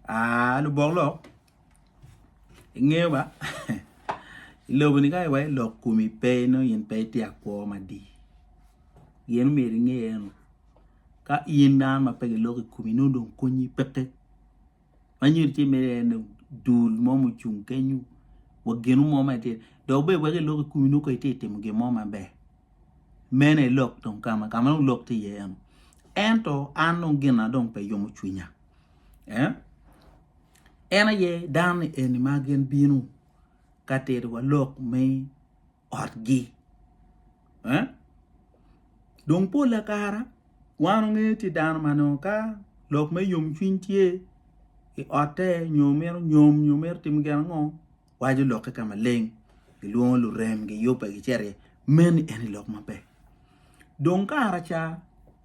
Ah lubok lok ingeyo ba i lobo ni ka iwaco lok komi pe inongo in pe itye akwo madi gin myero inge eno ka in dano ma pe giloko i komi nongo dong konyi peke ma nyo tye mere en ni dul mo ma ocung kenyo wa gino mo ma itye dok bene weko ilok i komi nongo ka itye ka timo gin mo maber mene ilok dong kama kama dong lok tye iye eno ento an dong gina dong pe yomo cwinya eh en aye dano ni eni ma gin bino ka tito wa lok me otgi eh dong pol kara wan onge tye dano ma nongo ka lok me yom cwiny tye i otte nyo mito nyom nyo mito timo gin ango waco lokke ka maleng gilwongo lurem giyubbe gicito iye meno en aye lok maber dong kara ca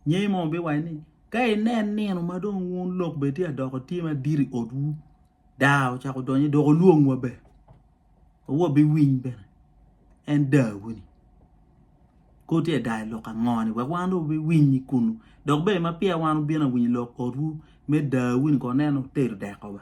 ngeyi mo biwaco ni ka inen nino ma dong wun lok bene tye ka doko tye madit i otwu daa ocako donyo dok olwongwa bene wa wabiwiny bene en dawu-ni kor tye ka daa i lok ango-ni wek wan dong wabiwiny i kunu dok bene ma peya wan obino awinyo lok otwu me dawu-ni kong nen otero deko ba.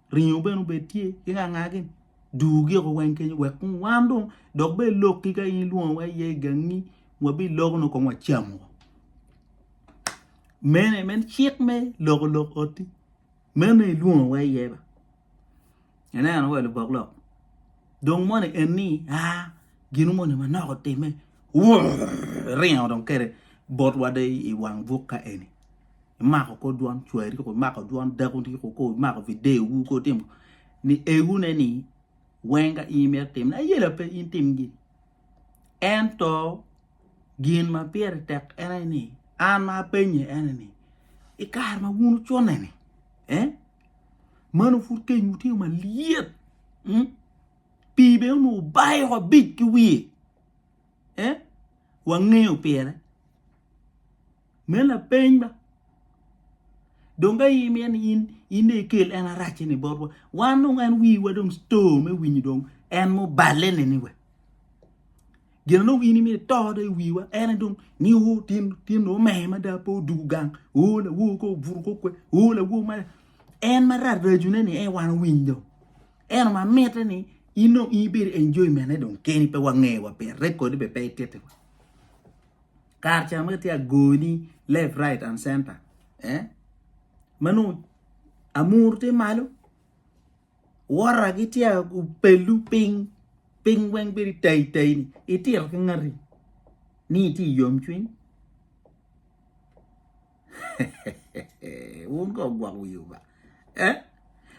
ringo bene obed tye ki ka ngagi dur giko weng kenyo wek kong wan dong dok bed lokki ka in ilwongo wa iye igangi wabi loko nongo kong wacamo mene meno cik me loko lok oti meno dong ilwongo wa iye ba ineno wa lubok lok dong moni eni aa gino moni manok otime wurr iringo dong kede bot wade iwang buk ka eni imako kor dwon cwari kong imako dwon dakoni kong kor imako videowu kong itimo ni egune ni weng ka in imito timone ayela pe in tim gin ento gin ma pire tek en aye ni an ma apenye en aye ni i kare ma wun wucune-ni meno pud kenywu tye malyet pii bene onongo obayo abic ki wiye wangeyo pire. Me lapeny ba, dong ka in mito ni in dong ikel en arac-ceni botwa, wan dong en wiwa dong store me winyo dong en muballe-ni we. Gin ma dong in imito ito dong i wiwa en aye dong ni o tyen nongo omer mada pe odwogo gang, o lawo kong obuto kong kwer, o lawo mada. En ma rac racuneni en aye wan owiny dong. Ento ma mitte ni in dong in ibedo enjoyment-ne dong keni pe wangeyo wa pire, rekodi bene pe itittiwa. kare ca ma tye agoni left right and center eh manongo amuru tye malo wora gitye opelu piny piny weng bedo tayi tayi ni itito ki ngati ni itye i yomcwiny. Wun ka ogwok wi Oba. Eh?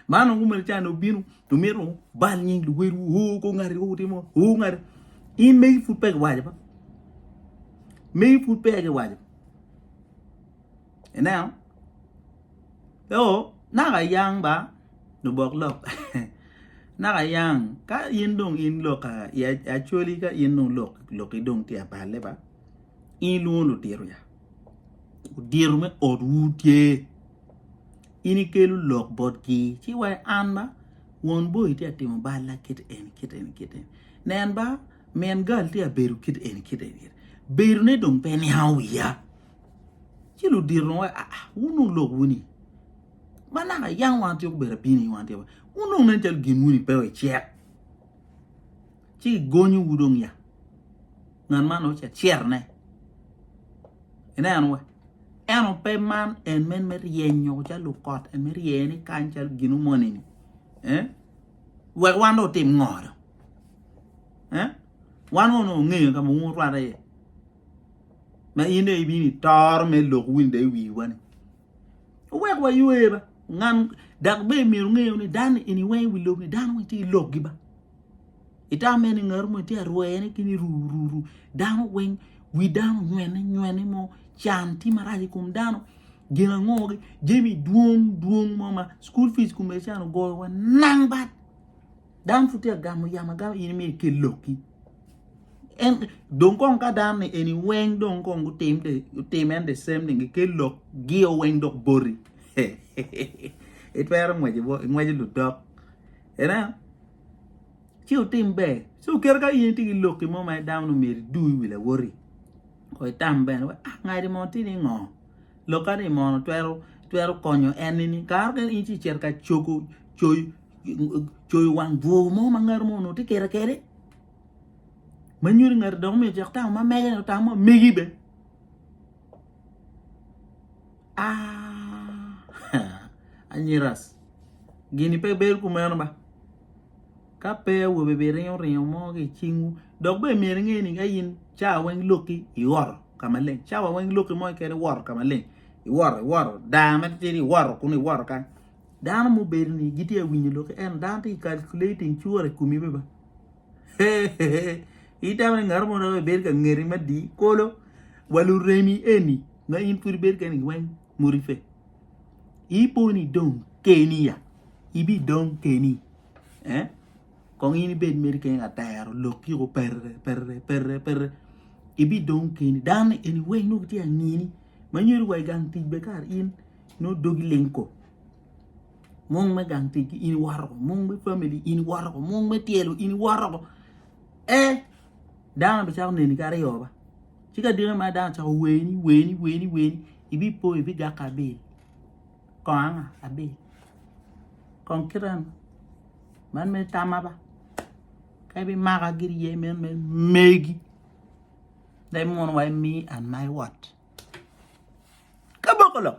Man ongu mel cani obino, omito bal nying luwedu, o ko ngati ko wutimo, o ngati. In megi pud pe giwaco ba. Megi pud pe giwaco. Ineno? Yo, naka yang ba, lubok lok. naka yang, ka in dong in lok, acoli ka in dong lok, lok idong tye apalle ba, in ilwongo lutito ya. odiro me otwu tye in ikelo lok botgi ci wa an ba won boyi tye ka timo balla kit eni kit eni kit eni nen ba min gal tye ka bedo kit eni kit eni kit eni bedone dong pe niango wiya ci ludiro dong waci aa wun dong lok wuni ma naka yam wan atyeko bedo abino ni wan atyeko wun dong nen calo gin wuni pe wacek ci kigonyowu dong ya. ngat man nongo ca cerne. Ineno wa? Eno pe man en men me ryenyo ca lukot, en me rye ni kany calo ginu moni-ni. Eh? Wek wan dong otim ngo dong? Eh? Wan wano ongeyo ka ma wun rwate iye. Ma in dong ibino itoro me lok win dong iwiwa ni. Wek wa ywe ba. Ngan dak be myero ngeyo ni dan ini weng iwi lok ni dan weng ti ilok gi ba. Itam mene ngaro mo itye arwene kit ni ru ru ru dano weng wi dano onywene nywene mo can tye marac i kom dano gin ango jami dwong dwong mo ma cukul pic kome can ogoyowa nang bat dano pud tye ka gamo yamo agama in imito ikel lokki en dong kong ka dano ni eni weng dong kong gutim the gutim en the same thing gikel lokgio weng dok boti itwero ngweco bot ingweco ludok. Ineno? Ci wutim ber. Ci kit ka in itye ki lok mo ma dano ni myero idu i wi lawoti, ko itam bene wek ah ngati mo tye ni ngo, lokka ni mono twero twero konyo en nini. Kare mukene in ci icito ka cogo coyo coyo wang bwur mo ma ngati mo onongo tye kede kede ma nyuto ni ngati dong myero ocak tamo ma mege ni otamo ma megi bene. Anyiras gini pe bedo kumeno ba ka pe awobe biringo ringo mo ki i cingwu dok bene myero inge ni ka in cawa weng lokki iwoto ka maleng cawa weng lokki mo keken iwoto ka maleng iwoto iwoto daa ma titidi iwoto kunu iwoto kany dano mubedo ni gitye ka winyo lokki ento dano tye ka calculating cure i komi bene ba. Itamo ni ngat mo dok bedo ka ngeti madi kolo wa luremi eni ma in pud ibedo kene weng muriffe iboni dong keni ya ibidong keni eh kong in ibed mere keni latero lok kiko perere perere perere perere ibidong keni dano ni eni weng nongo gitye ka ngini ma nyuto wa i gang tic bene kara in nongo dogi ling ko. mung me gang tic in iwoto woko mung me famili in iwoto woko mung me tyelo in iwoto woko ee dano bicako neni ki aryo ba ci ka diki ma dano ocako weni weni weni weni ibipo ibigako abil kong anga abil kong kite eni man mere tamma ba ka ibimaka giri iye meno mere megi dong imuno wa imi an ma iwot ka boko lok.